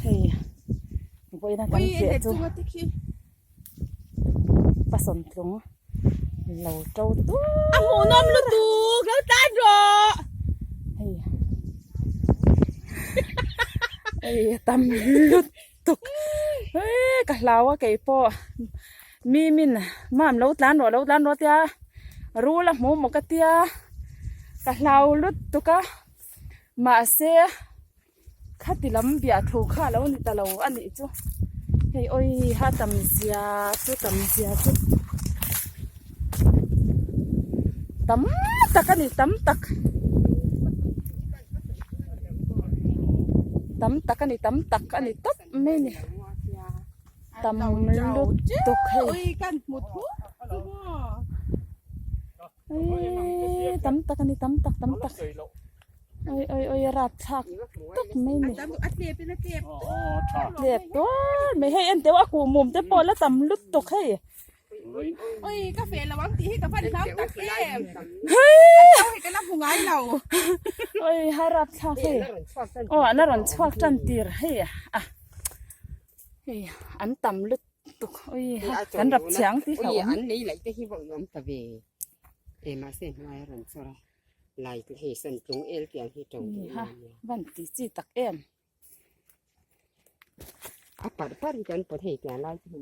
Hei, boina kan chiah chu pasawn tlung lo to tu. A hmuh nawm lu tu, lo tan rawh. Hei. Hei, tam lu tuk. Hei, ka hlau a kei po. Mi min, mam lo tan rawh, lo tan rawh tia. Ru la hmuh mo ka tia. Ka hlau lu tuk a. Mahse. khati lam biah thu kha a lo ni ta lo a nih chu hei awi ha tam zia chu tam zia chu tam tak a ni tam tak tam tak a ni tam tak a ni tawp mai ni tam lutuk hei Ui, tam tak ani, tam tak, tam tak. Ui, ui, ui, rat chak tak mai ni. Tlep tuar mai hei, en teo a ku mum te pawh la tam lut tuk hei. Ui, ka fe lo ang tih hi ka van hlam tak em. Hei! Tau hei ka la hmu ngai lo. Ui, ha rat chak hei. Oh, la rawn chhuak tan tir hei. Ah, hei, an tam lut. ui kan rap chiang ti hlauh ang an nei laih te hi vawh i awm ta ve e mahse hnuaia rawn chawr a lai te hi sawn tlung el tih ang hi to ni ha van ti chi tak em a par par hi kan paw thei tih ang lai te hi